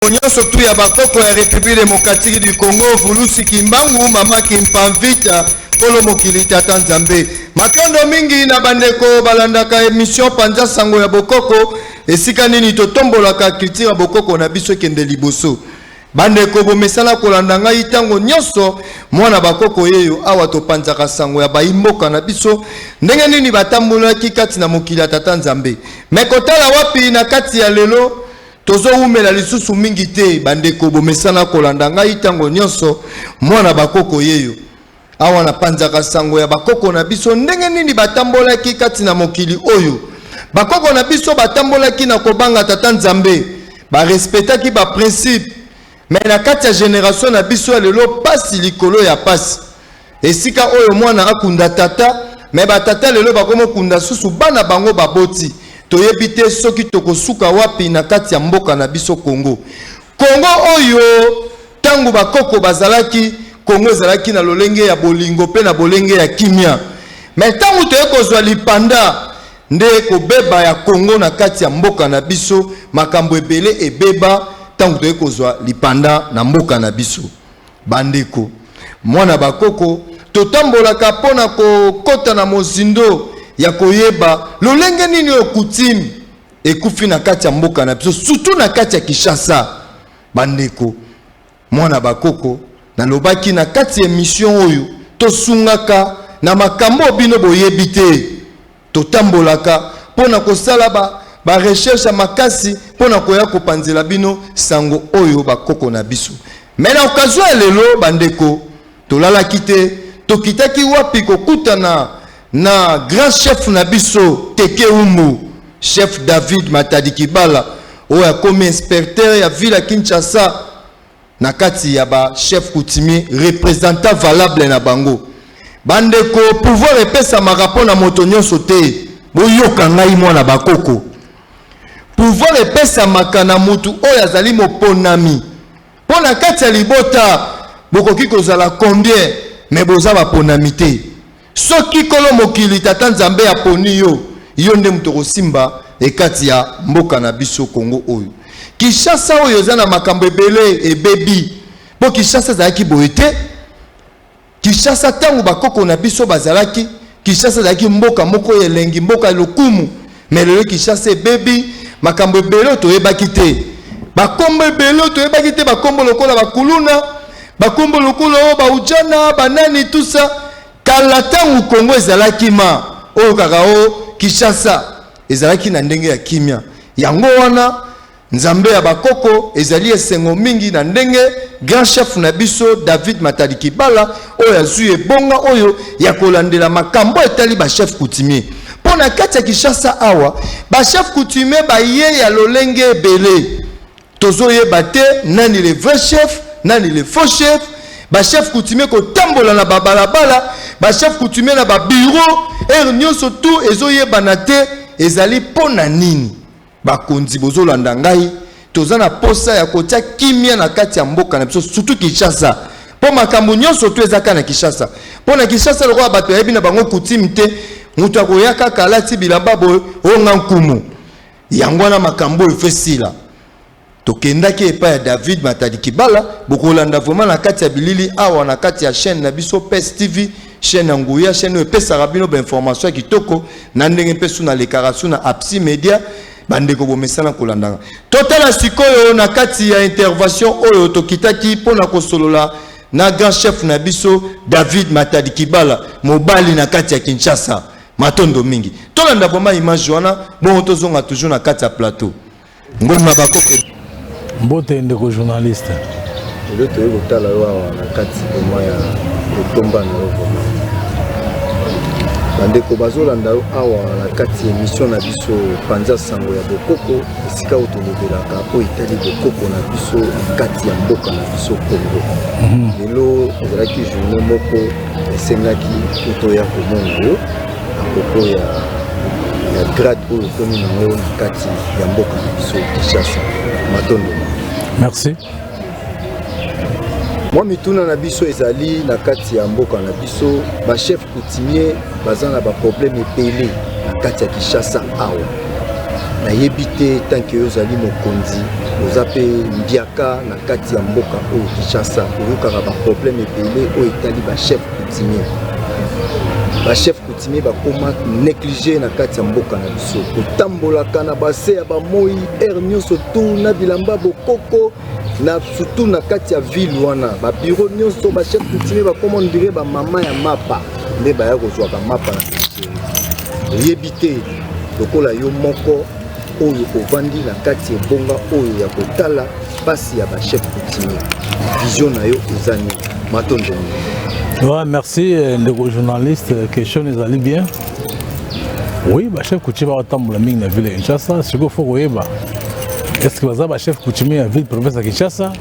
Bandeko nyonso tu ya bakoko ya Republiki Demokratiki du Kongo, Vulusi Kimbangu, Mama Kimpavita, Kolo Mokili, Tata Nzambe. Matondo mingi na bandeko balandaka emission Panza Sango ya Bokoko, esika nini totombolaka culture ya bokoko na biso ekende liboso. Bandeko bomesana kolanda ngai ntango nyonso mwana bakoko yeyo awa topanzaka sango ya bayimboka na biso ndenge nini batambolaki kati na mokili ya tata nzambe me kotala wapi na kati ya lelo Tozowumela lisusu mingi te, bandeko. Bomesana kolanda ngai ntango nyonso, mwana bakoko yeyo. Awa napanzaka sango ya bakoko na biso, ndenge nini batambolaki kati na mokili oyo. Bakoko na biso batambolaki na kobanga Tata Nzambe, barespetaki baprincipe. Me na kati ya generation na biso ya lelo, pasi likolo ya pasi. Esika oyo mwana akunda tata, mais ba tata lelo bakomo kunda susu bana bango baboti. Toyebi te soki tokosuka wapi na kati ya mboka na biso Congo. Congo oyo tango ba koko bazalaki, Congo ezalaki na lolenge ya bolingo pe na bolenge ya kimia. Mais tango toye kozwa lipanda, nde kobeba ya Congo na kati ya mboka na biso, makambo ebele ebeba tango toye kozwa lipanda na mboka na biso. Bandeko, mwana bakoko, totambolaka mpo na kokota na mozindo ya koyeba lolenge nini oyo kutime ekufi na kati ya mboka na biso, surtout na kati ya Kinshasa. Bandeko, mwana bakoko, nalobaki na kati ya emission oyo tosungaka na makambo oyo bino boyebi te. Totambolaka mpo na kosala ba ba recherche ya makasi mpo na koya kopanzela bino sango oyo bakoko na biso. Mais na occasion ya lelo bandeko, tolalaki te, tokitaki wapi kokutana na grand chef na biso Teke Umbu, chef David Matadi Kibala oyo akomi inspecteur ya ville ya Kinshasa na kati ya ba chef coutumier representant valable na bango bandeko pouvoir epesamaka mpo na moto nyonso te boyoka ngai mwana bakoko pouvoir epesamaka na motu oyo azali moponami mpo na kati ya libota bokoki kozala combien me boza baponami te Soki nkolo mokili tata nzambe aponi yo, yo nde moto okosimba ekati ya mboka na biso Congo oyo. Kinshasa oyo eza na makambo ebele ebebi mpo Kinshasa ezalaki boye te. Kinshasa ntango bakoko na biso bazalaki, Kinshasa ezalaki mboka moko ya elengi, mboka ya lokumu, mais lelo kinshasa ebebi makambo ebele oyo toyebaki te bakombo ebele oyo toyebaki te bakombo lokola bakuluna bakombo lokola oyo baujana banani tusa kala ntango kongo ezalaki ma oyo kaka o kinshasa ezalaki na ndenge ya kimia yango wana Nzambe ya bakoko, ezali esengo mingi na ndenge Grand Chef na biso David Matalikibala oyo azui ebonga oyo ya kolandela makambo etali ba chefs coutumiers. Mpo na kati ya Kinshasa awa, ba chefs coutumiers baye ya lolenge ebele. Tozoyeba te nani le vrai chef, nani le faux chef, ba chefs coutumiers kotambola na ba balabala, ba chefs coutumiers na ba bureaux, heure nionso tout ezoyebana te ezali mpo na nini? Bakonzi bozolanda ngai, toza na posa ya kotia kimia na kati ya mboka na biso, surtout Kinshasa mpo makambo nyonso tu ezaka na Kinshasa. Mpo na Kinshasa lokola bato yayebi na bango kutime te, moto akoya kaka alati bilamba boye onga nkumu, yango wana makambo oyo efesila Tokendaki epai ya David Matadi Kibala, bokolanda vraiment na kati ya bilili awa na kati ya chaîne na biso PES TV, chaîne ya nguya, chaîne oyo epesaka bino ba information ya kitoko na ndenge mpe su nalekaka su na Apsi Media, bandeko bomesana kolandaka. Totala sikoyo na kati ya intervention oyo tokitaki mpo na kosolola na grand chef na biso David Matadi Kibala, mobali na kati ya Kinshasa. Matondo mingi. Tolanda vraiment image wana, bongo tozonga toujours na kati ya plateau. Mbote na bako Mbote ndeko journaliste. Ndio toye kotala yo awa na kati koma ya kotomba na yo koma. Bandeko bazolanda yo awa na kati ya emission na biso panza sango ya bokoko esika oyo tolobelaka oyo etali bokoko na biso na kati ya mboka na biso Congo. Mhm. Lelo ezalaki journée moko esengaki totoya komona yo na propos ya ya grade oyo okomi nango na kati ya mboka na biso kinshasa matondo merci mwa mituna na biso ezali na kati ya mboka na biso bachef coutumier baza na baproblème ebele na kati ya kinshasa awa nayebi te tanke yo ozali mokonzi oza mpe mbiaka na kati ya mboka oyo kinshasa oyokaka baproblème ebele oyo etali bachef coutumier ba chef coutumier bakoma néglige na kati ya mboka na biso kotambolaka na base ya bamoi aire nyonso tu na bilamba bokoko na surtout na kati ya ville wana babiro nyonso ba chef coutumier bakoma ondire bamama ya mapa nde baya kozwaka mapa na oyebi te lokola yo moko oyo ovandi na kati ya ebonga oyo ya kotala mpasi ya bachef coutumier vision na yo eza nini matondo ouais, merci euh, ndeko journaliste euh, question ezali bien oui bachef coutumier bakotambola mingi na ville ya kinshasa sikoyo fo koyeba est ce que baza bachef coutumier ya ville province ya kinshasa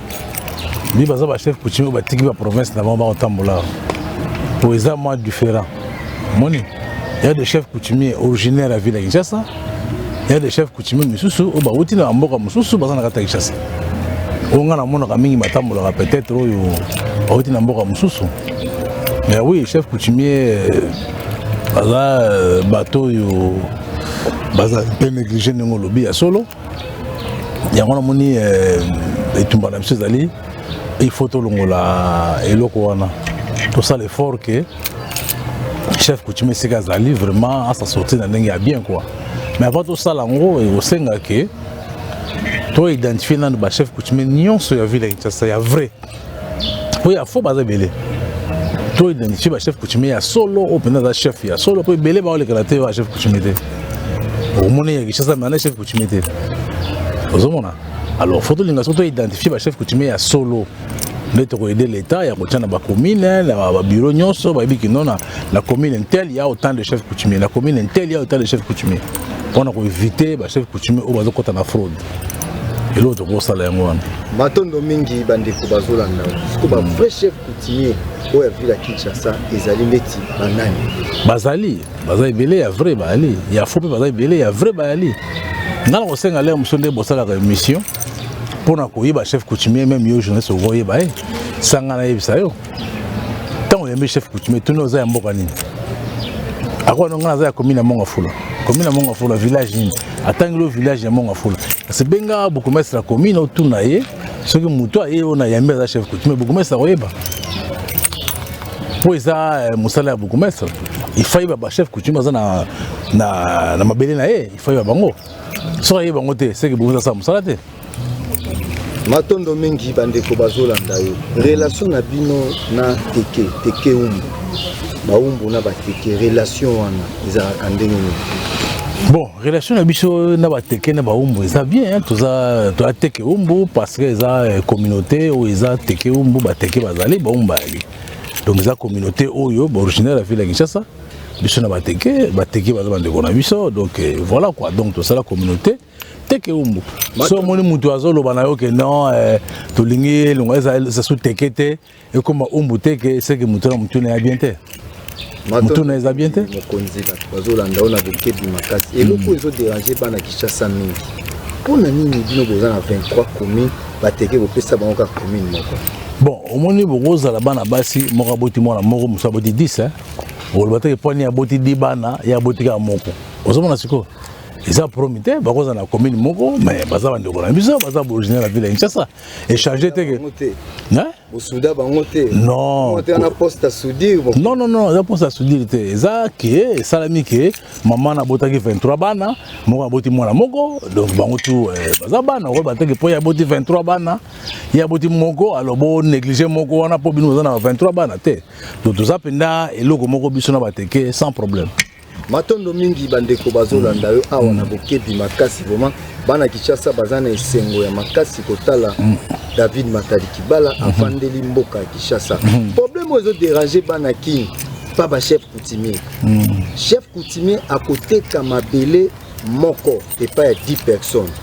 mi baza bachef coutumier oyo batiki baprovince na bango bakotambola po eza mwa différent moni ya de chef coutumier originaire ya ville ya kinshasa ya de chef coutumier misusu oyo bawuti na bamboka mosusu baza na kati ya kinshasa oyo ngai namonaka mingi batambolaka peut-être oyo bawuti na mboka mosusu mais oui chef coutumier baza euh, bato oyo baza mpe néglige ndenge olobi ya solo yango namoni eh, etumba na biso ezali il faut tolongola eloko wana tosala effort ke chef coutume esika azali vraiment asa sortir na ndenge ya bien quoi mais avant tosala yango ekosenga ke to identifie nanu bachef coutume nyonso ya ville ya kinshasa ya vrai oyo afo baza ebele to identifie bachef coutumier ya solo oyo mpenza aza chef ya solo mpo ebele baolekela te ba chef coutumier te okomona ya kishasa me ana chef coutumier te ozomona alors fo tolinga soki to identifie bachef coutumier ya solo nde tokoyede l'état ya kotya na bacommune na babiro nyonso bayebi kino na la commune intel ya autant de chef coutumier la commune intel ya autant de chef coutumier mpona koevite bachef coutumier oyo bazokɔta na fraude eloko tokosala yango wana matondo mingi bandeko bazolanda siko ba vrai chef coutumier oyo ya ville ya kinshasa ezali ndeti banani bazali baza ebele ya vrai bayali ya fo mpe baza ebele ya vrai bayali nga na kosenga lere mosusu nde bosalaka émission mpo na koyeba chef coutumier meme yo journaliste okoyeba ye sanga nayebisa yo ntango oyambi chef coutumier tuni oza ya mboka nini akoka nonga naza ya commune ya mongafula commune ya mongafula village nini atangeli o village ya mongafula kasi benga bokomestre ya commune otuna ye soki moto aye oyo na yambi aza chef coutumier bokomestre akoyeba mpo eza eh, mosala ya bokomestre ifai bachef coutumier aza na, na, na mabele na ye ifai ba bango soki aye bango te seke bokozasala mosala te matondo mingi bandeko bazolanda yo relation na bino na teke teke umbu baumbu na bateke relation wana ezalaka ndenge nini bon relation na biso na bateke na baumbu eza bien toza toza teke umbu parce que eza eh, communauté oyo eza teke umbu bateke bazali baumbu bayali donc eza communauté oyo baoriginaire ya ville ya kinshasa biso na bateke bateke baza bandeko na biso donc eh, voilà quoi donc tosala communauté teke umbu so omoni motu azoloba na yo ke non eh, tolingi elongo eza su teke te ekoma umbu teke seke motu na motuna ya bien te motuna eza bien te mokonzi bato bazolanda yo na bokebi makasi mm. eloko oyo ezoderange bana kinshasa mingi mpo na nini bino boza na 23 commune bateke kopesa bango kaka commune moko bon omoni bokozala bana basi moko aboti mwana moko mosu aboti 10 oloba teke mpo ani aboti di bana ye aboti kaka moko ozomona sikoyo eza promi te bakoza na commune moko mais baza bandeko na biso baza originaire ya ville ya kinshasa échange te ke bosuda bango te non na poste soudire non non non eza poste soudire te eza ke esalami ke mama nabotaki 23 bana moko aboti mwana moko donc bango tu eh, baza bana okoyeba te ke mpo ye aboti 23 bana ye aboti moko alors bo néglige moko wana mpo bino boza na 23 bana te donc toza mpenza eloko moko biso na bateke sans problème matondo mingi bandeko bazolanda yo awa na bokebi makasi vraiment bana kinshasa baza na esengo ya makasi kotala mm. david matali kibala mm-hmm. afandeli mboka ya kinshasa mm-hmm. problème oyo ezoderange bana kin pa bachef coutumier mm. chef coutumier akoteka mabele moko epai ya 10 personnes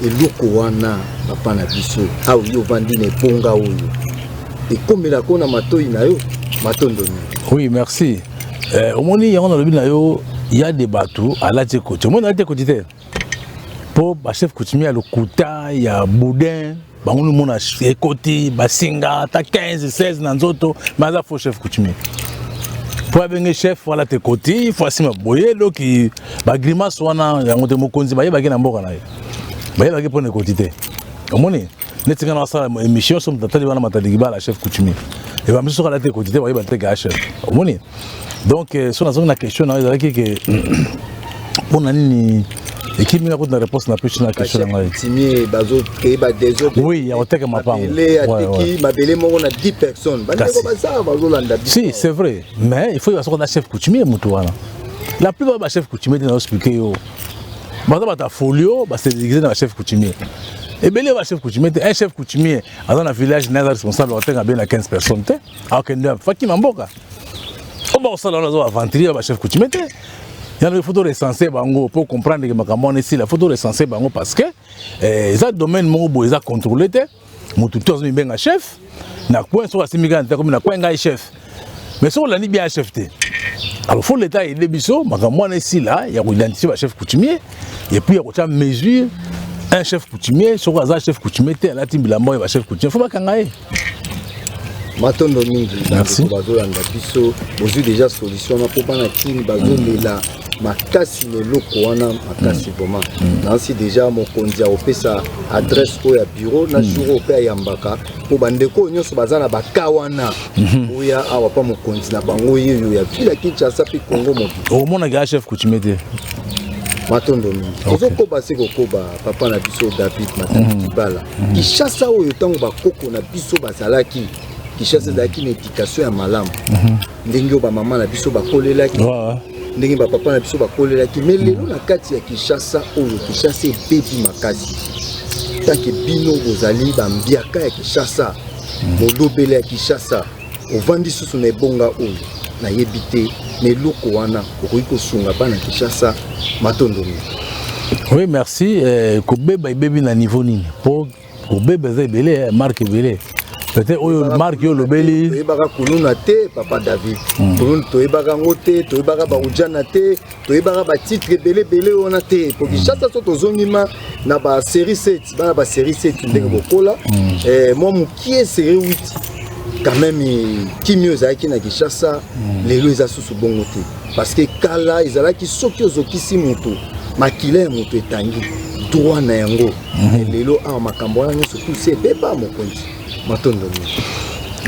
eloko wana papa na biso awa yo ovandi na ebonga oyo ekomela ko na matoi na yo matondo mingi oui merci eh, omoni yango nalobi na yo ya de bato alati ekoti omoni alati ekoti te mpo bachef coutumier ya lokuta ya boudin bango nomona ekoti basinga ata 15 16 na nzoto me aza faux chef coutumier mpo abenge chef wala te koti fo asima boye doki bagrimace wana yango te mokonzi bayebaki na mboka na ye bayebaki mpo na ekoti te omoni neti nga na basala émission so motatali wana matadiki bala chef coutumier ebamisusu kala te ekoti te bayeba te ke a chef omoni donc euh, so nazongi na question nayo ezalaki ke mpo na nini ekimi nga kutina réponse na pesi na question na ngai timie bazokei badesordre oui ya koteka mapango ateki mabele moko na 10 personnes bandeko bazala bazolanda si c'est vrai mais il faut yeba soko na chef coutumier motu wana la plupart ba chef coutumier te naoexplike yo baza bato ya folio basedegize na ba chef coutumier ebele ba chef coutumier te un chef coutumier aza na village naye aza responsable akotenga bie na 15 personnes te akokende fakima mboka oyo bakosala wana aza aventurier ya bachef coutume te yango il faut to recenser bango mpo comprendre ke makambo wana esila il faut to recenser bango parce que eh, eza domaine moko boye eza contrôle te motu to azo mibenga chef na coin soki asimbi kaka nzete akomi na coin ngai chef mais soki olandi bien chef te alors faut l'état aide biso makambo wana esila ya koidentifie bachef coutumier et puis ya kotya mesure un chef coutumier soki aza chef coutumier te alati bilamba oyo bachef coutumier fo bakanga ye matondo mingi bazolanda biso bozwi deja solution wana mpo bana kini bazolela makasi na eloko wana makasi mm. vraiment mm. nansi deja mokonzi akopesa adresse oyo ya bureau na mm. jour oyo mpe ayambaka mpo bandeko oyo nyonso baza na baka wana mhm. oya awa mpa mokonzi na bango yeyo ya vila kinshasa mpe congo mobili omonaka chef coutume te matondo mingi tozokoba se kokoba papa na biso david matali mm. kibala mm. kishasa oyo ntango bakoko na biso bazalaki kishasa ezalaki na edikatio ya malamu mm-hmm. ndenge oyo bamama na biso bakolelaki ndenge bapapa na biso bakolelaki me lelo mm. na kati ya kishasa oyo kishasa ebebi makasi take bino bozali bambiaka ya kishasa molobele ya kishasa ovandi susu na ebonga oyo nayebi te na eloko wana okoki kosunga bana kinshasa matondo mingi oui merci eh, kobeba ebebi na niveau nini mpo kobeba eza ebele eh, marke ebele peut-être oyo marke oyo olobeli toyebaka kuluna te papa david hmm. kuluna toyebaka yango te toyebaka baujana te toyebaka batitre ebele ebele wana te po kinshasa so tozongi ma na basérie 7 bana basérie 7 ndenge bokola mm. eh, mwa mokie série 8 quand même eh, kimio ezalaki na kinshasa mm. lelo eza susu bongo te parce que kala ezalaki soki ozokisi moto makila ya moto etangi droit na yango mm. lelo awa makambo wana nyonso tusi ebeba mokonzi matondo mingi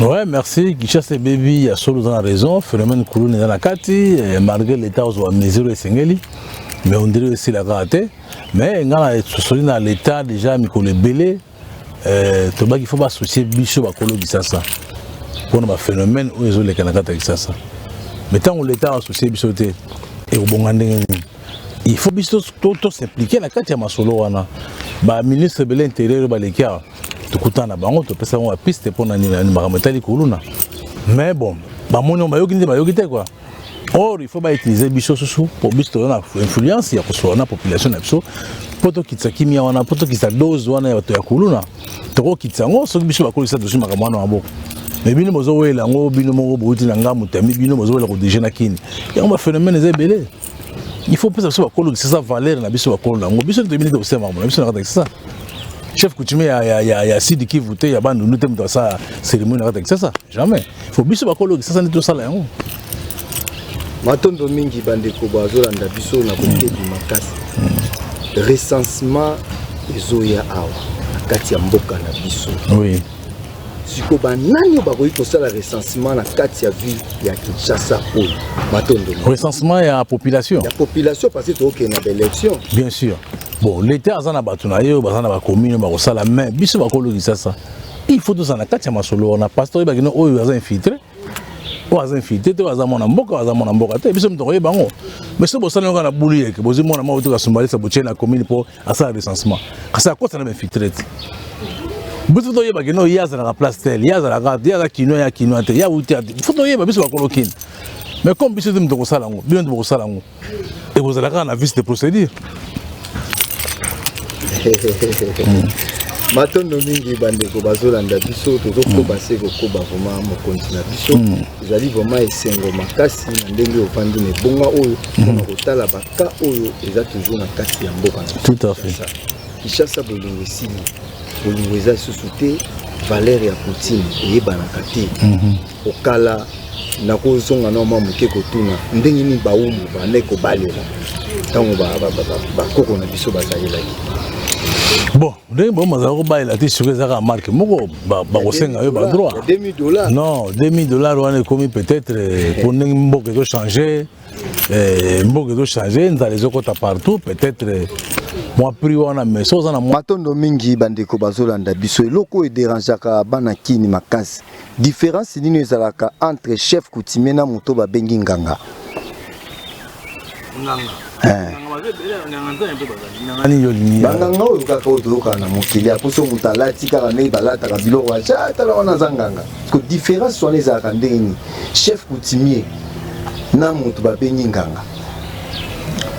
ouais merci kinshasa ebebi ya solo oza na raison phénomène kuluna eza na kati eh, malgré l'état ozwa mesure esengeli mais ondire esila kaka te mais ngai na esosoli na l'état déjà mikolo ebele eh, tobaki fo baassocie biso bakolo kisasa mpona baphénomène oyo ezoleka na kati ya kisasa mais ntango l'état associe biso te ekobonga ndenge nini il faut biso tosimplike na kati ya masolo wana baministre ebele intérieur balekiaka tokutana na bango topesa bango bapiste mpo na nini makambo etali kuluna mais bon bamoni bayoki nde bayoki te kua or il faut bautilize biso susu mpo biso toza na influence ya kosola na population na biso mpo tokitisa kimia wana mpo tokitisa dose wana ya bato ya kuluna tokokitisa yango soki biso bakolisa tozwi makambo wana maboko me bino bozowela yango bino moko bouti na ngambo tami bino bozowela kodirige na kini yango baphénomène eza ebele il faut pesa biso bakolo kisasa valeur na biso bakolo na yango biso nde toyebi nde tokosala makambo na biso na kata kisasa chef coutumier ya, ya, ya, ya sidi kivu te ya bandundu te moto asala cérémonie na kata kisasa jamais il faut biso bakolo kisasa nde tosala yango matondo mingi bandeko bazolanda biso na bokebi makasi recensement ezoya awa na kati ya mboka na biso oui. siko banani oyo bakoki kosala recensement na kati ya ville ya kinshasa oyo matondo recensement ya population ya population parce que tookende na baélection bien sûr bon l'état aza na bato na ye oyo baza na bacommune oyo bakosala mais biso bakolo kinshasa il faut tozala na kati ya masolo wana parce que oyebaki no oyo aza infiltré oyo aza infiltré te oyo aza mwana mboka oyo aza mwana mboka te biso moto okoyeba yango mais soki bosala yango na bulu yeke bozwi mwana moko toka sombalisa botie na commune mpo asala recensement kasi akosa na bainfiltre te biso toyeba kino ye azalaka place tel ye azalaka ye aza kinois ya kinois te ye awuti ya te fo toyeba biso bakolo kini mais comme biso te moto tokosala yango bino te bokosala yango ekozala kaka na vice de procédure matondo mingi bandeko bazolanda biso tozokoba mm. se kokoba vraimen mokonzi na biso mm. ezali vraimen esengo makasi na ndenge ofandi na ebonga oyo mpona mm. kotala Ka oyo eza toujours na kati ya mboka na tout à fait Kinshasa bolingo esili bolingo eza lisusu te valeur ya poutine eyebanaka te mhm. okala nakozonga na mwa moke kotuna ndenge nini bawumbu bane kobalela ntango bakoko na biso bazalelaki bon ndenge bango bazala kobalela te soki ezaka marke moko bakosenga yo badroit non 2000 dollar wana ekomi peut-être mpo eh. ndenge mboka ezochange Eh, mboka ezo change nzala ezokota partout peut-être mwa prix wana mais so oza na matondo mingi bandeko bazolanda biso eloko oyo ederangeaka bana kini makasi différence nini ezalaka entre chef coutumier na moto babengi nganga eh. banganga oyo kaka oyo toyokana na mokili akoso moto alati kaka ndenge balataka biloko aca tala wana aza nganga Ko difference wana ezalaka ndenge nini? Chef coutumier na mutu babengi nganga.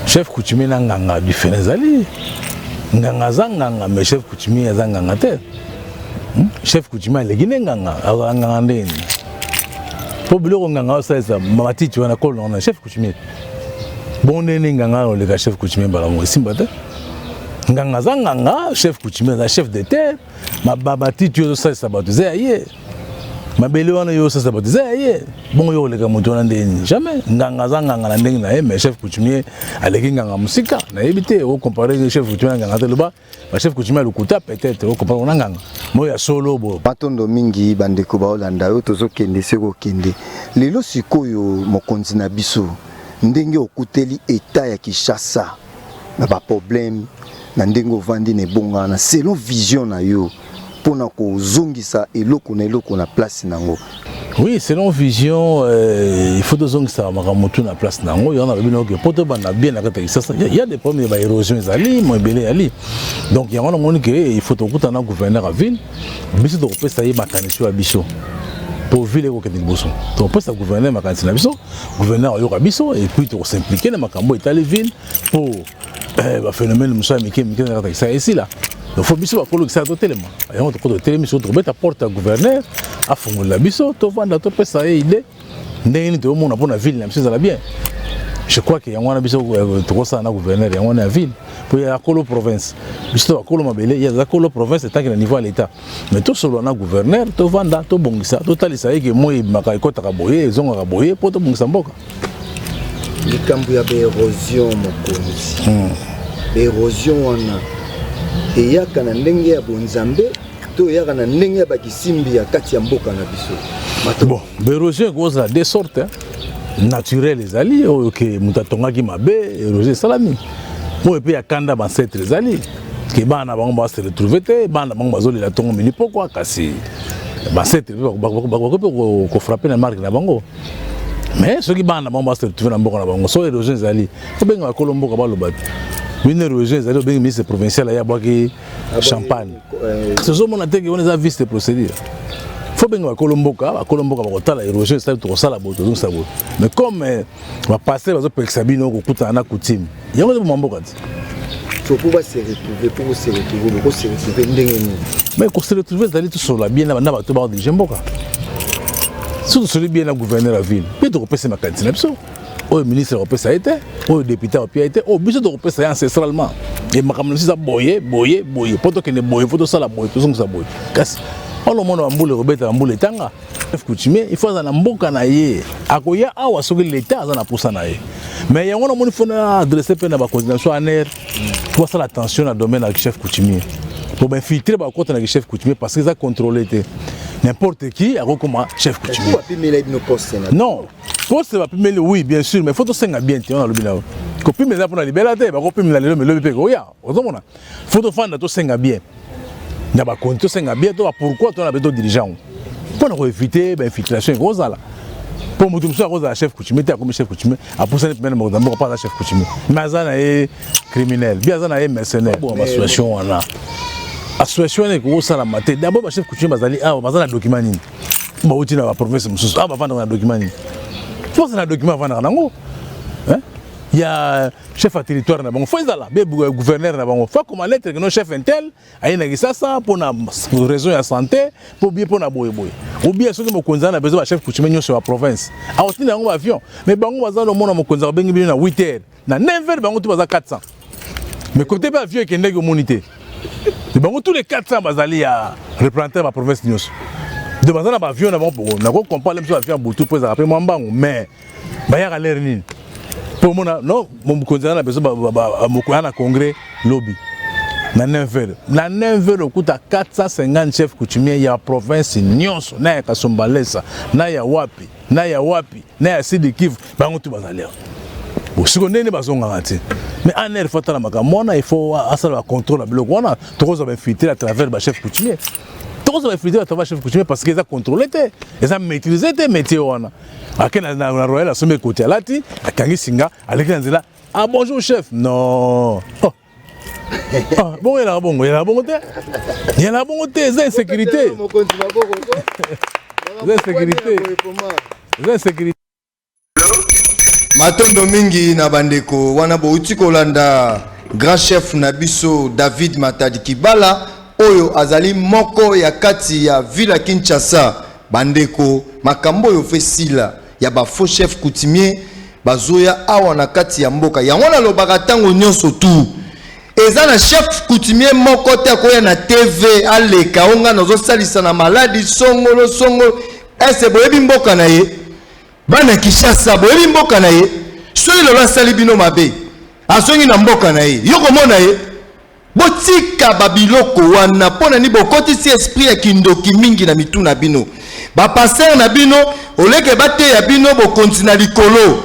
Chef coutumier na nganga difference ezali. Nganga aza nganga mais chef coutumier aza nganga te. Hmm? Chef coutumier aleki nde nganga, azala nganga ndenge nini? Po biloko nganga osalisa matiti wana kolo na chef coutumier. Bongo ndenge nini nganga oleka chef coutumier mbala moko esimba te? Nganga aza nganga, chef coutumier aza chef de terre. mababatiti oyo osalisa bato eza ya ye mabele wana yo osalisa bato eza ya ye bongo yo oleka moto wana nde nini jamais nganga aza nganga na ndenge na ye mais chef coutumier aleki nganga mosika nayebi te ocompare chef coutumier na nganga te loba bachef coutumier ya lokuta peut-être ocompare ona nganga moi ya solo bo matondo mingi bandeko baolanda yo tozokende se kokende lelo sikoyo mokonzi na biso ndenge okuteli etat ya kinshasa na ba problème na ndenge ovandi na ebonga na selon vision na yo pona kozongisa eloko na eloko na place na yango Oui, selon vision, euh, il faut donc ça makamutu na place nango. Il y en a bien que poto bana bien la kata ça. Il y a des problèmes ba érosion ezali, mo ebele ali. Donc il y a on moni que il faut to kutana gouverneur à ville. Biso to kopesa ye makanisi ya biso. Po ville ko kende liboso. To kopesa gouverneur makanisi na biso. gouverneur ayoka biso et puis toko s'impliquer na makambo etali ville pour eh, ba phénomène mosusu ya mike mike na kata kisa esila donc faut biso bakolo kisa totelema yango tokota totelemi soki tokobeta porte ya gouverneur afongolela biso tovanda topesa ye idée ndenge nini toyomona mpo na ville na biso ezala bien je crois que yango wana biso euh, tokosala na gouverneur yango wana ya ville mpo ya kolo province biso to bakolo mabele ye aza kolo province etanke na niveau ya l'état mais tosolola na gouverneur tovanda tobongisa totalisa ye ke moi ebimaka ekɔtaka boye ezongaka boye mpo tobongisa mboka likambo ya baerosion mokonzi hmm. baerosion wana eyaka na ndenge ya bonzambe to eyaka na ndenge ya bakisimbi ya kati ya mboka na biso bon baerosion ekozala de sorte naturel ezali oyo ke moto atongaki mabe erosion esalami oyo mpe ya kanda bancetre ezali ke bana na bango ba se retrouver te bana na bango bazolela ntongo mini pokwa kasi bansete bakoki mpe kofrape na marke na bango mais soki bana na bango ba se retrouver na mboka na bango so erosion ezali obenga bakolo mboka baloba te bino erosion ezali obengi ministre provincial aye abwaki champagne tozomona te ke wana eza vice de procédure fo benga bakolo mboka bakolo mboka bakotala erosion esali tokosala boye tozongisa boye mais comme bapaster bazopekisa bino kokutana na coutume yango ezoboma mboka ti soki base retrouve mpo bose retrouve bokose retrouve ndenge nini mai kose retrouve ezali tosolola bien na bato bao dirige mboka soki tosoli bien na gouverneur ya ville mpe tokopesa makanisi na biso oyo ministre akopesa ye te oyo depute akopia ye te oyo biso tokopesa ye ancestralement e makambo na biso eza boye boye boye mpo tokende boye mpo tosala boye tozongisa boye kasi olomona bambula ekobeta bambula etanga chef coutumier il faut aza na mboka na ye akoya awa soki leta aza na posa na ye mais yango na moni fona adresse mpe na bakonzi na biso aner mpo asala attention na domaine ya chef coutumier mpo bainfiltre bakota na chef coutumier parce que eza contrôle te n'importe qui akokoma chef coutumier non poste bapimeli oui bien sûr mais faut tosenga bien te wana alobi na yo kopimela eza mpona libela te bakopimela lelo melobi mpe koya ozomona fo tofanda tosenga bien na bakonzi tosenga bien to bapourkoi tona mpe to dirigeant yango mpo na koevite bainfiltration ekozala mpo moto mosusu akozala chef coutumier te akomi chef coutumier apusani mpena na mokonzi ya mboka mpo aza chef coutumier mais aza na ye criminel bi aza na ye mercenaire bon basituation wana association wana ekoki kosalama te dabord bachef coutumier bazali awa baza na document nini bauti na baprovince mosusu awa bafandaka na document nini mpo aza na document afandaka nango ya chef ya territoire na bango fo ezala be gouverneur na bango fo akoma lettre kino chef intel aye na kisasa mpo na raison ya santé mpo bie mpo na boyeboye obie soki mokonzi aza na besoin bachef coutumier nyonso ya province akotinda yango baavion mais bango baza lomona mokonzi akobengi bino na 8 heures na 9 heures bango tu baza 400 mais kote mpe avion ekendeki omoni te bango tous les 400 bazali ya représentant ya baprovince nyonso donc baza na baavion na bango poko nakoki comprendre mpe avion ya butu mpo ezalaka mpe mwa mbangu mais bayaka lere nini mpo omona no mokonzi na biso mokoya na congrès lobi na 9 heures na 9 heures okuta 450 chef coutumier ya province nyonso na ya kasombalesa na ya wapi na ya wapi na ya sidi kivu bango tu bazali awa bosiko ndenge bazongaka te mais en heure fo atala makambo wana il faut asala bacontrôle ya biloko wana tokozwa bainfiltre à travers bachef coutumier tokozwa bainfiltre à travers chef coutumier parce que eza contrôle te eza maîtrise te métier wana ake na, na, na royal asombi ekoti alati akangi singa aleki na nzela ah bonjour chef non oh. ah, bongo yelaka bongo yelaka bongo te yelaka bongo te eza insécurité eza insécurité eza insécurité matondo mingi na bandeko wana bouti kolanda grand chef na biso david matadi kibala oyo azali moko ya kati ya villa kinshasa Bandeko makambo oyo fe sila ya ba faux chef coutumier bazoya awa na kati ya mboka yango nalobaka ntango nyonso tu eza na chef coutumier moko te akoya na tv aleka o ngai nazosalisa na maladi songolo songolo ese boyebi mboka na ye bana kishasa boyebi mboka na ye soki lelo asali bino mabe azongi na mboka na ye yo komona ye Botika ba biloko wana pona ni bokotisi esprit ya kindoki mingi na mitu na bino. Ba pasteur na bino oleke bateya bino bokonzi na likolo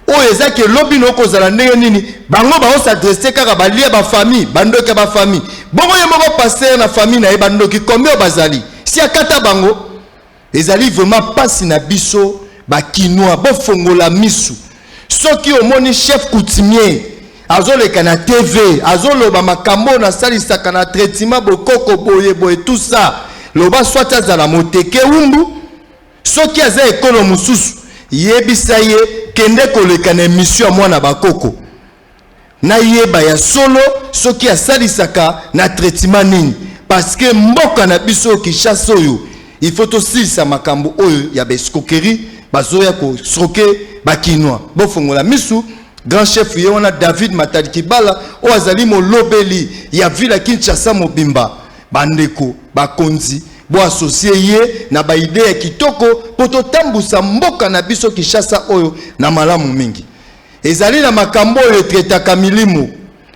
oyo eza ke lobi na okozala ndenge nini bango bao s'adresse kaka balia ba famille bandoki ya ba famille bongo ye moko pasteur na famille na ye bandoki combien bazali si akata bango Ezali vraiment pasi na biso ba kinois bo fongola misu soki omoni chef coutumier azoleka na TV azoloba makambo na salisaka na traitement bokoko boye boye tout ça loba soit azala moteke umbu soki aza ekolo mosusu yebisa ye kende koleka na emission ya mwana bakoko nayeba ya solo soki asalisaka na traitement nini parce que mboka na biso oyo Kinshasa oyo il faut tosilisa makambo oyo ya ba escroquerie bazoya ko escroquer ba kinois bofongola misu grand chef ye wana David Matadi Kibala oyo azali molobeli ya ville ya Kinshasa mobimba bandeko bakonzi bo associer ye na ba idee ya kitoko mpo totambusa mboka na biso Kinshasa oyo na malamu mingi Ezali na makambo oyo etretaka milimo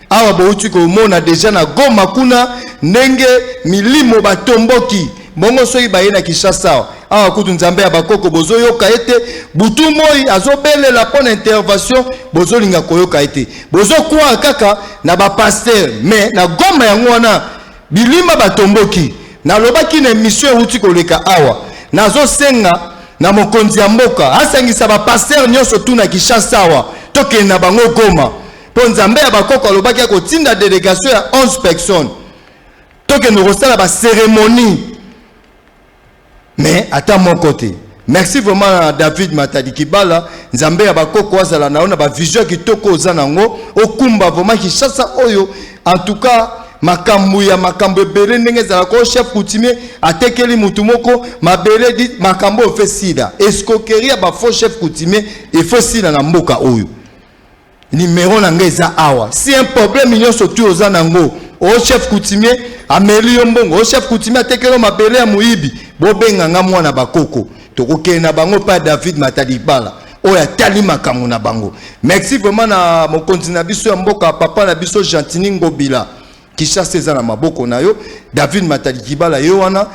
awa bowuti komona deja na Goma kuna ndenge milimo batomboki bongo soki baye na Kinshasa awa awa kutu nzambe ya bakoko bozoyoka ete butu moi azobelela mpo na intervention bozolinga koyoka ete bozokwaa kaka na bapaster mais na Goma yango wana Bilimba batomboki. Nalobaki na emission ewuti koleka awa, nazosenga na mokonzi ya mboka asangisa ba pasteurs nionso tout na Kinshasa awa, tokende na bango Goma, mpo Nzambe ya bakoko alobaki akotinda delegation ya 11 personnes, tokende kosala ba ceremonies mais ata moko te merci vraiment david matadi kibala nzambe ya bakoko azala na yo na bavision ya kitoko oza na yango okumba vraiment kinshasa oyo en tout cas makambo ya makambo ebele ndenge ezalaka o chef coutumier atekeli motu moko mabele di makambo oyo fe sida escroquerie ya bafaux chef coutumier efo sida na mboka oyo Numero na nga eza awa. Si un problème nyonso tu oza na ngo, o chef coutumier ameli yo mbongo, o chef coutumier atekelo mabele ya moyibi, bobenga nga mwana bakoko. Tokokende na bango pa David Matadibala oyo atali makambo na bango. Merci vraiment na mokonzi na biso ya mboka, papa na biso Gentini Ngobila. Kinshasa eza na maboko na yo. David Matadibala yo wana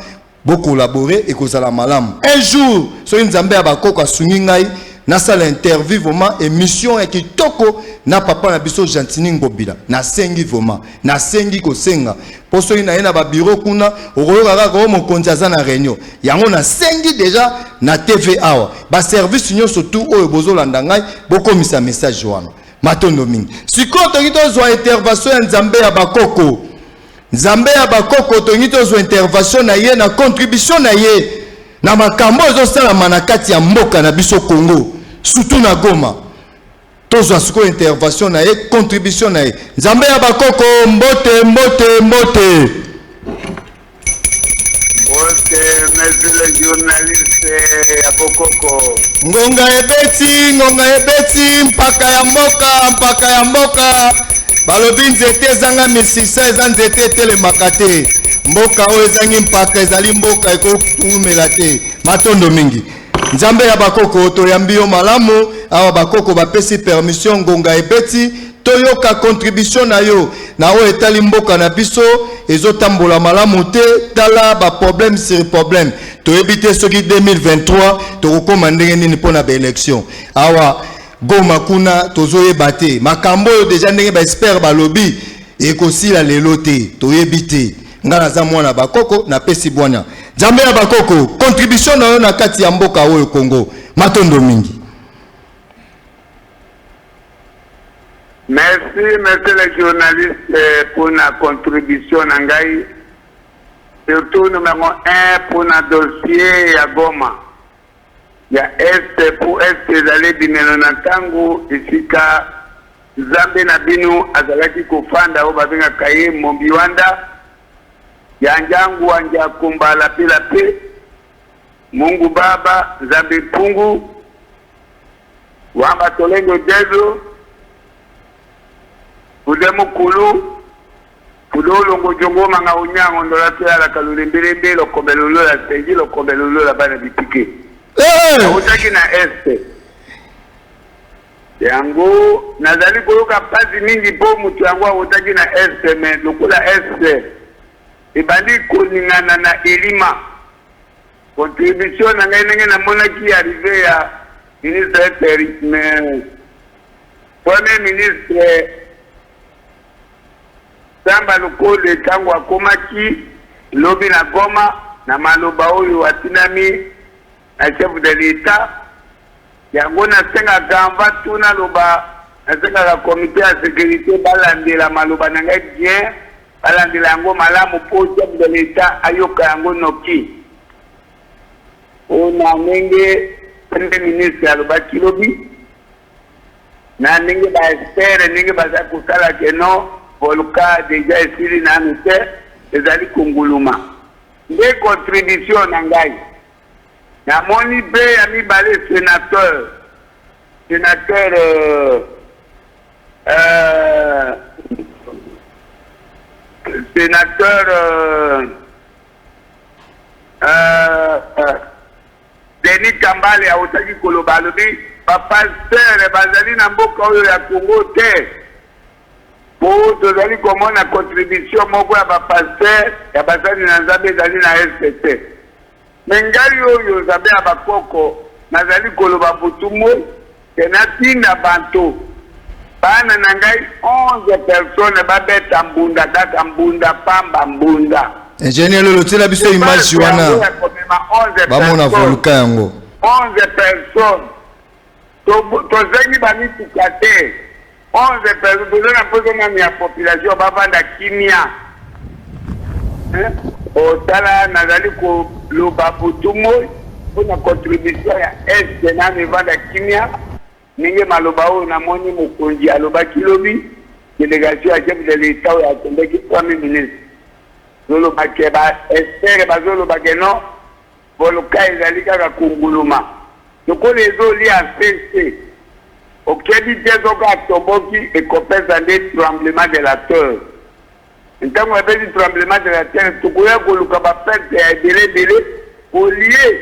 Bo collaborer ekozala malamu. Un jour soki Nzambe ya ba koko asungi ngai nasala interview vraiment emission ya kitoko na papa na biso Gentini Ngobila. Nasengi vraiment, nasengi kosenga po soki naye na ba bureau kuna okoyoka kaka o mokonzi aza na reunion. Yango nasengi deja na TV awa ba service nyonso tout oyo bozolanda ngai bokomisa message wana. Matondo mingi. Sikoyo toki tozwa intervention ya Nzambe ya ba koko. Nzambe ya bakoko tolingi tozwa intervention na ye na contribution na ye na makambo ezosalama na kati ya mboka na biso Congo surtout na Goma tozwa sikoyo intervention na ye contribution na ye Nzambe ya bakoko mbote mbote mbote Ngonga ebeti, ngonga ebeti, mpaka ya mboka, mpaka ya mboka. Balobi nzete ezanga misisa, eza nzete etelemaka te. Mboka oyo ezangi mpaka ezali mboka ekotumela te. Matondo mingi. nzambe ya bakoko toyambi yo malamu awa bakoko bapesi permission ngonga ebeti Toyoka contribution na yo na oyo etali mboka na biso ezotambola malamu te tala ba problème sur problème toyebi te soki 2023 tokokoma ndenge nini mpo na baélection awa goma kuna tozoyeba te makambo oyo deja ndenge baexpert balobi ekosila lelo te toyebi te ngai naza mwana bakoko napesi bwana nzambe ya bakoko contribution na yo na kati ya mboka oyo kongo matondo mingi Merci monsieur le journaliste pona contribution na ngai surtout numero un pona dossier ya Goma ya Est po Est ezali ebimelo na tango esika zambe na bino azalaki kofanda oyo babengaka ye Mombiwanda ya Njangua Njakumba Lape Lape Mungu Baba Zambe Mpungu Wanga Tolenge Jesu, Kude Mukulu, Kude Olongo Jongo Manga Onyango Ndola Toyala Kalulembe Lembe Lokombe Lolo la Sengi Lokombe Lolo la Bana Bitike. Nautaki na Este. Yango nazali koyoka mpasi mingi mpo moto yango autaki na Este, me lokola Este ebandi koningana na elima Contribution na ngai ndenge namonaki arrive ya ministre Eteric mais premier ministre Samba Lukonde ntango akomaki lobi na Goma na maloba oyo atinami na chef de l'etat yango nasengaka anva tuna loba nasengaka comité ya securite balandela maloba na ngai bien Balandela yango malamu mpo chef de l'Etat ayoka yango noki. Mpo na ndenge Premier ministre alobaki lobi, na ndenge ba experts ndenge bazali kosala que non, volcan dejà esili nanu te, ezali konguluma. Nde contribution na ngai. Namoni mpe ya mibale senateur. Senateur euh, euh, senateur euh, euh, euh, Denis Kambale awutaki koloba alobi bapastere bazali na mboka oyo ya Congo te po tozali komona contribution moko ya bapastere ya basali na Nzambe ezali na este te Mais ngai oyo, Nzambe ya ba koko, nazali koloba butu moi que natinda banto, bana na ngai 11 personnes babeta mbunda kaka mbunda pamba, mbunda. Ingenieur Lolo tiela biso image wana bamona volcan yango. 11 personnes Tozangi ba mituka te. 11 personnes toza na mposa nanu ya population bavanda kimia botala nazali koloba butu moi mpo na contribution ya est nanu evanda kimia ndenge maloba oyo namoni mokonzi alobaki lobi delegation ya chef de l'etat oyo akendeki premier ministre zolobake ba espere bazolobake non Volcan ezali kaka kunguluma lokola ezo lia se se okebi te soki atoboki ekopesa nde tremblement de la terre ntango ebeti tremblement de la terre tokoya koluka ba perte ya ebele ebele olie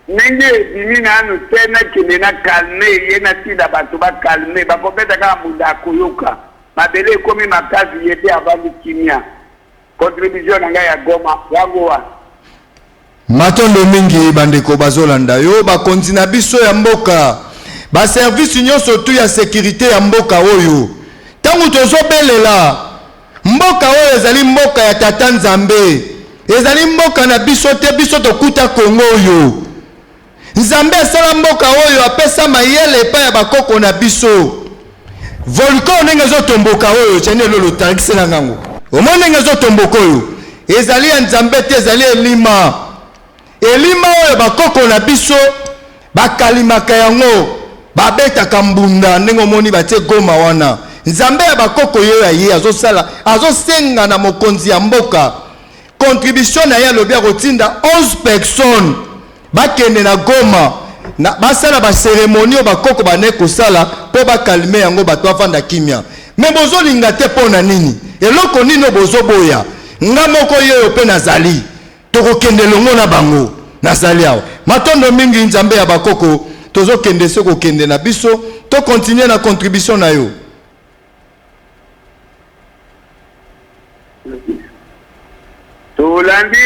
ndenge ebimi nanu te nakende na calme ye natinda bato ba calme bakobeta kaka mbunda akoyoka mabele ekomi makasi ye te avandi kimia Contribution na ngai ya Goma yango wana. Matondo mingi bandeko bazolanda yo bakonzi na biso ya mboka ba service nyonso tu ya securite ya mboka oyo ntango tozobelela mboka oyo ezali mboka ya tata nzambe ezali mboka na biso te biso tokuta kongo oyo Nzambe asala mboka oyo apesa mayele epai ya bakoko na biso. Volcan ndenge ezotomboka oyo ceni elolo tangisela ngango. Omoni ndenge ezotomboka oyo ezali ya Nzambe te, ezali elima. Elima oyo bakoko na biso bakalimaka yango, babetaka mbunda ndenge omoni batie Goma wana. Nzambe ya bakoko yo ya ye azosala, azosenga na mokonzi ya mboka Contribution na ye alobi akotinda 11 personnes bakende na Goma na basala ba ceremonie oyo bakoko bane kosala mpo bakalme yango bato bavanda kimia. Me bozolinga te mpo na nini? Eloko nini oyo bozoboya? Nga moko ye oyo mpe nazali, tokokende elongo na bango. Nazali awa. Matondo mingi Nzambe ya bakoko, tozokende se kokende na biso. To continuer na contribution na yo. Tolandi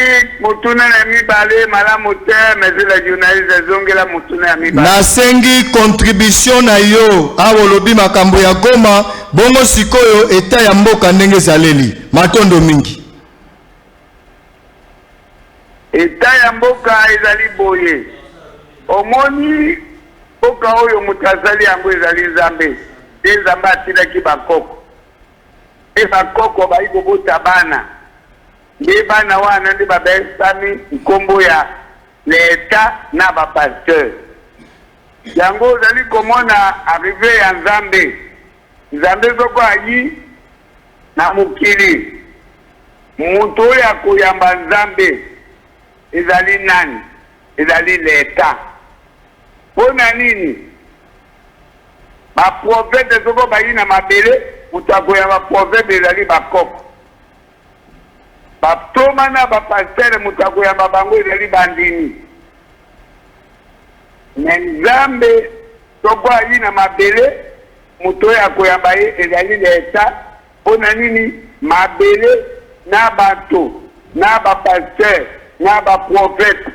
motuna na mibale malamu te mais la journaliste zongela motuna ya mibale. Nasengi contribution na yo awa olobi makambo ya Goma bongo sikoyo etat ya mboka ndenge ezaleli. Matondo mingi. Etat ya mboka ezali boye. Omoni mboka oyo moto azali yango ezali Nzambe te. Nzambe atinaki ba koko pe ba koko bayi kobota bana nde bana wana nde babesami nkombo ya l'Etat na ba pasteur. Yango ozali komona arrive ya Nzambe. Nzambe soko ayi. Na mokili, moto oyo akoyamba Nzambe ezali nani? Ezali Leta. Mpo na nini? Baprofete soko bayi na mabele, moto akoyamba profete ezali bakoko. Baptoma na bapastere, moto akoyamba bango ezali bandimi. Me Nzambe soko ayi na mabele, Moto oyo akoyamba ye ezali leta. Mpo na nini mabele na bato na ba pasteur na ba prophète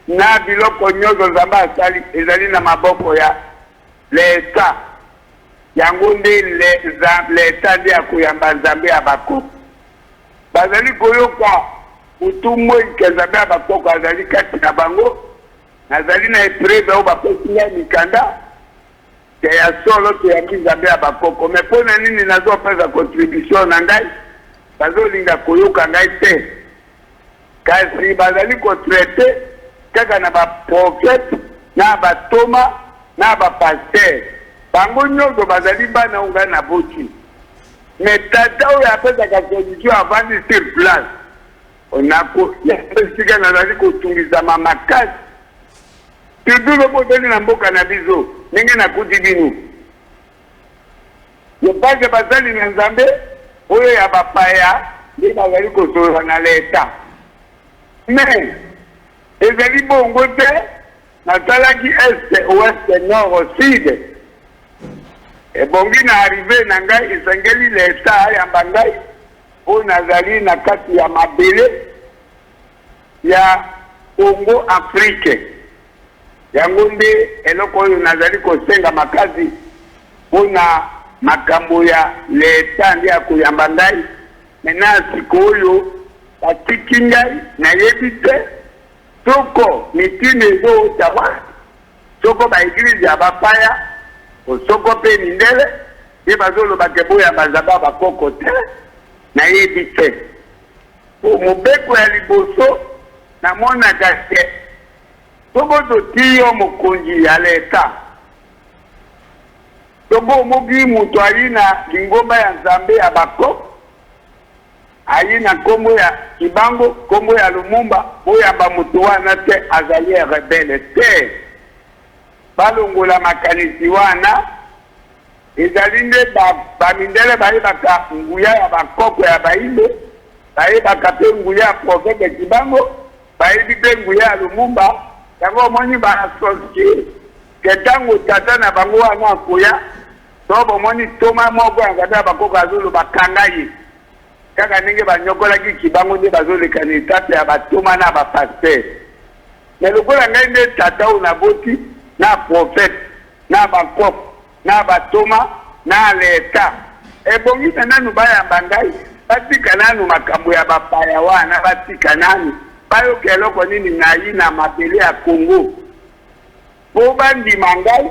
na biloko nyoso Nzambe asali ezali na maboko ya leta? Yango nde leta nde akoyamba Nzambe ya bakoko. Bazali koyoka butu moi que Nzambe ya bakoko azali kati na bango. Nazali na epreuve oyo bapesi ngai mikanda. Te ya solo toyambi nzambe ya bakoko mais pona nini nazo pesa contribution na ngai bazo linga koyoka ngai te kasi bazali ko traite kaka na ba prophète na ba toma na ba pasteur bango nyoso bazali bana oyo ngai naboti mais tata oyo apesaka condition avandi sur place onako ya esika nazali kotungisama makasi Toujours lobi ozongi na mboka na biso ndenge na kuti bino ya base ya basali na nzambe oyo ya ba paya nde bazali kosolola na leta mais ezali bongo te nasalaki est ouest nord sud ebongi na arrive na ngai esengeli leta ayamba ngai oyo nazali na kati ya mabele ya Congo Afrique. Yango nde eloko oyo nazali kosenga makasi mpo na makambo ya Leta nde akoyamba ngai. Maintenant sikoyo batiki ngai nayebi te soko mitinda ezowuta wapi, soko ba eglise ya bapaya soko mpe mindele nde bazoloba ke boyamba Nzambe ya bakoko te, nayebi te. Po mobeko ya liboso na monaka ke soki to ti yo mokonzi ya l'etat soki omoki mutu ayina lingomba ya nzambe ya ba coop ayina kombo ya kibango kombo ya lumumba boyamba mutu wana te azali un rebelle te balongola makanisi wana Ezali nde ba, ba mindele bayebaka nguya ya ba koko ya bayindo, bayebaka pe nguya ya prophete Kibango, bayebi pe nguya ya Lumumba, yango omoni ba sentir que tango tata na bango wana akoya, to bomoni ntoma moko ya nzambe ya ba koko azoloba kanga ye. Kaka ndenge ba niokolaki kibangu nde bazo leka na etape ya ba toma na ba pasteur mais lokola ngai nde tata oyo na boti na prophète na ba kok na ba toma na leta ebongi na nanu ba yamba ngai ba tika nanu makambo ya ba paya wana ba tika nanu ba yoka eloko nini nayi na mabele ya congo po ba ndima ngai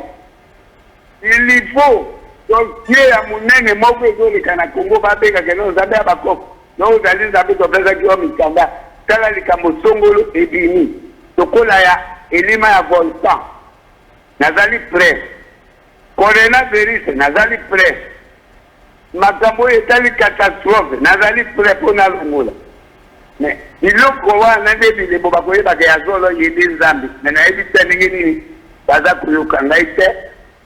Il lui faut donc Dieu ya munene moko ezoleka na Congo babengaka eno Nzambe ya bakoko donc ozali Nzambe topesaki yo mikanda tala likambo songolo ebimi lokola ya elima ya volcan nazali près corona virus nazali près Makambo oyo etali catastrophe nazali pret po nalongola mais biloko wana nde bilembo bakoyeba ke ya solo ye nde nzambe mais nayebi te ndenge nini baza koyoka ngai te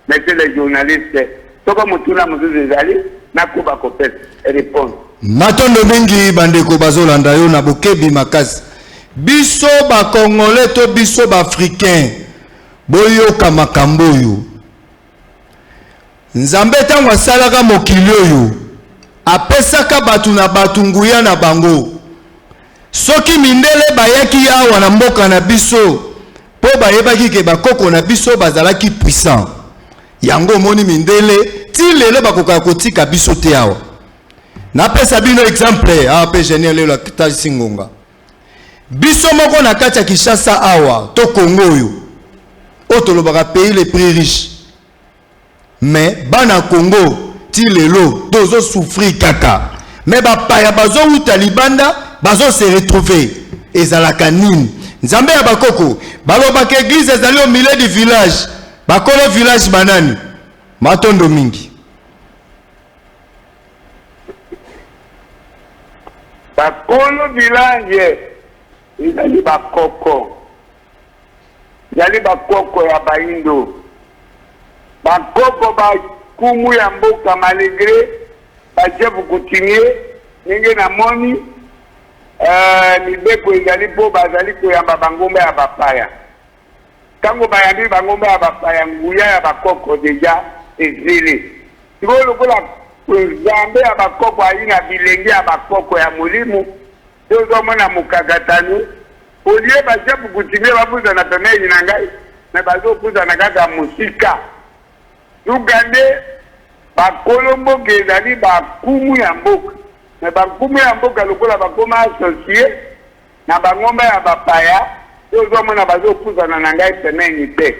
monsieur le journaliste soko motuna mosusu ezali nakoba kopesa reponse Matondo mingi bandeko bazolanda yo na bokebi makasi. Biso ba congolais to biso ba africains boyoka makambo oyo. Nzambe ntango asalaka mokili oyo, apesaka bato na bato nguya na bango. Soki mindele bayaki awa na mboka na biso mpo bayebaki ke bakoko na biso bazalaki puissant, yango omoni mindele ti lelo bakokaka kotika biso te awa. Napesa bino exemple awa mpe Genier lelo atalisi ngonga. Biso moko na kati ya Kinshasa awa to Congo oyo oyo tolobaka pays les prix riches mais bana Congo ti lelo tozo souffrir kaka mais bapaya bazowuta libanda bazo se retrouver ezalaka nini nzambe ya bakoko balobaka eglise ezali au milieu du village bakolo village banani matondo mingi Bakolo bilange ezali bakoko ezali bakoko ya baindo bakoko ba kumu ya mboka malegre bajefu kutinie ndenge namoni uh, mibeko ezali mpo bazali koyamba bangomba ya bapaya Tango bayambi bango ba bapaya nguya ya bakoko deja ezili. Sikoyo lokola Nzambe ya bakoko ayina bilenge ya bakoko ya molimo, tozo mona mokakatano, au lieu ba Jab Coutumier ba pusana pembeni na ngai, mais bazo pusana kaka mosika. Suka nde ba kolo mboka ezali ba nkumu ya mboka, mais ba nkumu ya mboka lokola bakoma associer, Na ba ngomba ya ba paya pe ozo mona bazo puzana na ngai pemeni te.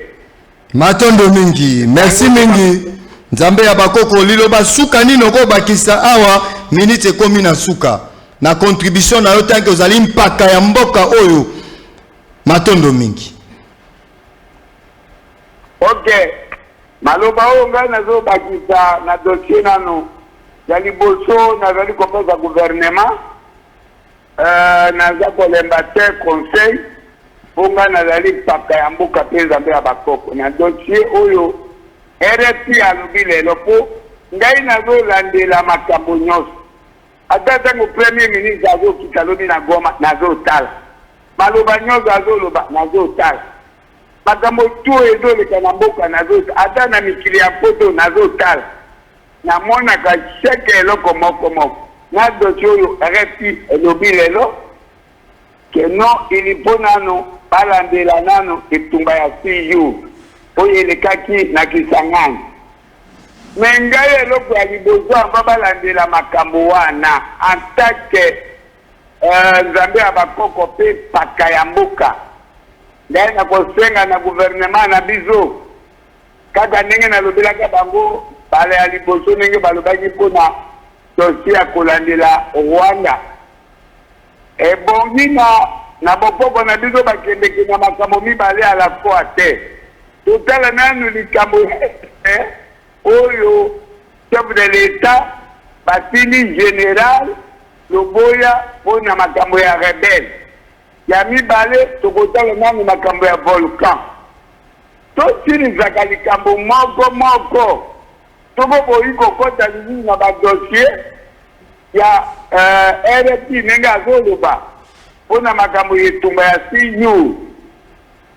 Matondo mingi, merci mingi. Nzambe ya bakoko liloba suka nini oko bakisa awa minute ekomi na suka na contribution na yo tanke ozali mpaka ya mboka oyo matondo mingi ok maloba oyo ngai nazobakisa na dossier nano ya liboso nazali kopesa gouvernement Euh, naza kolemba te conseil mpo ngai nazali mpaka ya mboka mpe nzambe ya bakoko na dossier oyo rfi alobi lelo mpo ngai nazolandela makambo nyonso ata ntango premier ministre azokita alobi na goma nazotala maloba nyonso azoloba nazotala makambo to ezoleka na mboka nazotala ata na mikili ya poto nazotala Namonaka chaque eloko moko moko na dossier oyo RFI elobi lelo que non il faut nanu balandela nanu etumba ya six jours oyo elekaki na Kisangani mais ngai eloko ya liboso ava balandela makambo wana en tant que euh, nzambe ya bakoko mpe paka ya mboka ngai nakosenga na gouvernement na biso Kaka ndenge nalobelaka bango mbala ya liboso, ndenge balobaki mpo na dossier ya kolandela Rwanda, ebongi na na bokoko na biso bakendeke na makambo mibale à la fois te. Totala nanu likambo ya Est oyo chef de l'Etat batindi general Loboya mpo na makambo ya rebelle. Ya mibale, tokotala nanu makambo ya volcan. Tosilisaka likambo moko moko soko boyi kokota lisusu na ba dossiers ya RFI ndenge azoloba mpo na makambo ya etumba ya six jours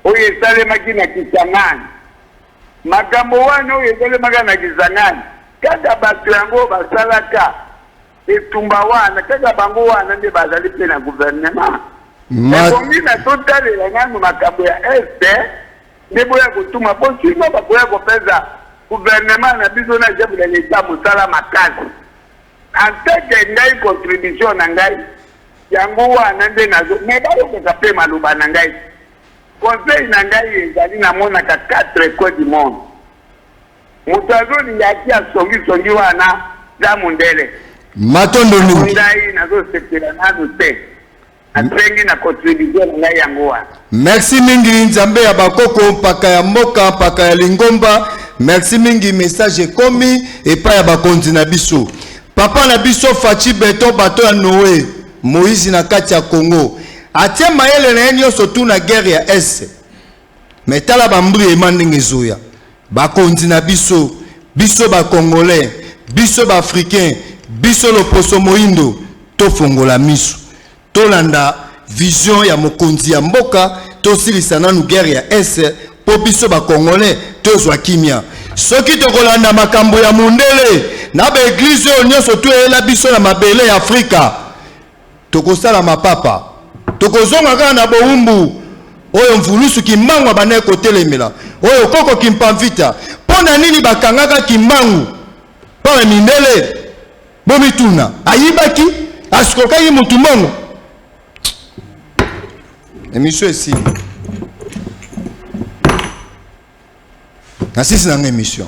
oyo esalemaki na Kisangani. Makambo wana oyo esalemaka na Kisangani, kaka batu yango basalaka Etumba wana kaka bango wana nde bazali mpe na gouvernement ebongi na totalela nanu makambo ya est nde boya kotuma mpo sino bakoya kopesa gouvernement na biso na chef de l'etat mosala makasi anteke ngai contribution na ngai yango wana nde nazo me bayokaka mpe maloba na ngai conseil na ngai ezali namonaka quatre coin du monde Moto azo linga ki ya songi songi wana za mundele. Matondo mingi. Yango ngai nazo sepela nanu te. Nasengi na contribution na ngai yango wana. Merci mingi Nzambe ya bakoko mpaka ya mboka mpaka ya lingomba. Merci mingi message ekomi epai ya bakonzi na biso. Papa na biso Fatshi Beton bato ya Noe Moïse na kati ya Congo atie mayele na ye nyonso tu na guerre ya Est. Mais tala ba mbriema ndenge ezoya. Bakonzi na biso, biso ba congolais, biso ba africains, biso loposo moindo tofongola misu. Tolanda vision ya mokonzi ya mboka, tosilisa nanu guerre ya est po biso ba congolais tozwa kimia. Soki tokolanda makambo ya mundele na ba eglise oyo nionso to eyela biso na mabele ya Afrika, Tokosala mapapa. Tokozonga kaka na bowumbu oyo Mvulusu Kimbangu abandaki kotelemela, oyo Koko Kimpamvita. Mpo na nini bakangaka Kimbangu? Mpo na mindele? Bomituna. Ayibaki? Asukokaki mutu mbongo? Emission esili. Nasisi na nga emission.